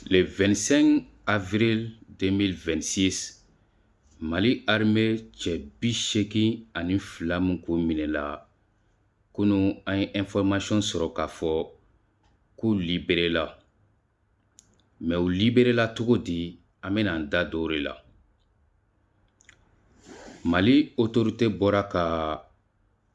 Le 25 avril 2026 Mali armée cɛ bi seegin ani fila min kun minɛla kunu an ye information sɔrɔ k'a fɔ k'u liberela mɛ u liberela cogo di an bɛna an da don o de la Mali autorité bɔra ka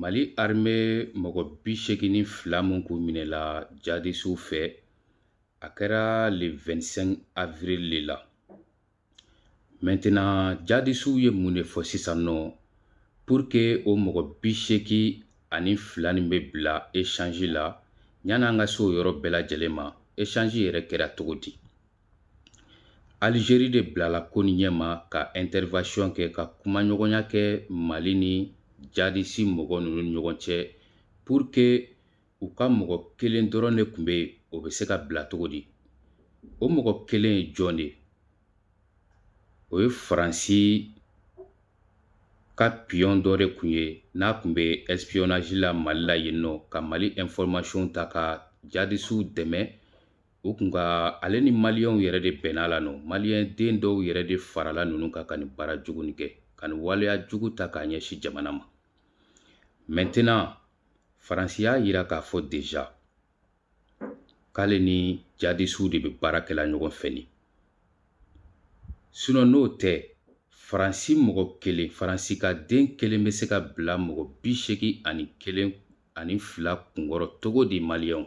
mali arme mɔgɔ bi seegin ni fila min kun minɛla jadisiw fɛ a kɛra le 25 avril de la maintenant jadisiw ye mun de fɔ sisan nɔ pour que o mɔgɔ bi seegin ani fila nin bɛ bila échange la yan'an ka se o yɔrɔ bɛɛ lajɛlen ma échange yɛrɛ kɛra cogo di Alizeri de bilala ko nin ɲɛma ka intervention kɛ ka kumaɲɔgɔnya kɛ Mali ni jadisi mɔgɔ ninnu ni ɲɔgɔn cɛ pour que u ka mɔgɔ kelen dɔrɔn de tun bɛ yen o bɛ se ka bila cogo di o mɔgɔ kelen ye jɔn de ye o ye faransi ka piyɔn dɔ de tun ye n'a tun bɛ espionage la mali la yen nɔ ka mali information ta ka jadisiw dɛmɛ u kun ka ale ni maliyɛnw yɛrɛ de bɛnna la nɔ maliyɛn den dɔw yɛrɛ de farala ninnu kan ka nin baara jugu nin kɛ ka nin waleya jugu ta k'a ɲɛsin jamana ma mɛntenan faransi y'a yira k'a fɔ deja k'ale ni jadisiw de bɛ baara kɛla ɲɔgɔn fɛ ni sinɔn n'o tɛ faransi mɔgɔ kelen faransi ka den kelen bɛ se ka bila mɔgɔ bi seegin ani kelen ani fila kunkɔrɔ cogo di maliyɛnw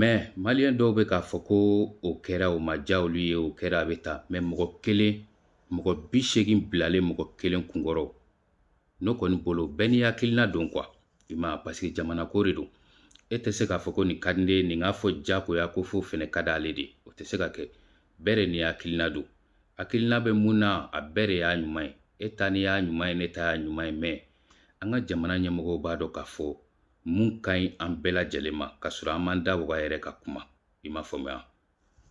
mɛ maliyɛn dɔw bɛ k'a fɔ ko o kɛra o ma diya olu ye o kɛra a bɛ ta mɛ mɔgɔ kelen mɔgɔ bi seegin bilalen mɔgɔ kelen kunkɔrɔ ne kɔni bolo bɛɛ n'i hakilina don kuwa i ma paseke jamana ko de don e tɛ se k'a fɔ ko nin ka di ne ye nin k'a fɔ diyagoya ko fo fɛnɛ ka d'ale de o tɛ se ka kɛ bɛɛ de n'i hakilina don hakilina bɛ mun na a bɛɛ de y'a ɲuman ye e ta nin y'a ɲuman ye ne ta y'a ɲuman ye mɛ an ka jamana ɲɛmɔgɔw b'a dɔn k'a fɔ mun ka ɲi an bɛɛ lajɛlen ma k'a sɔrɔ an m'an da waga yɛrɛ ka kuma i m'a faamuya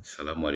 salamu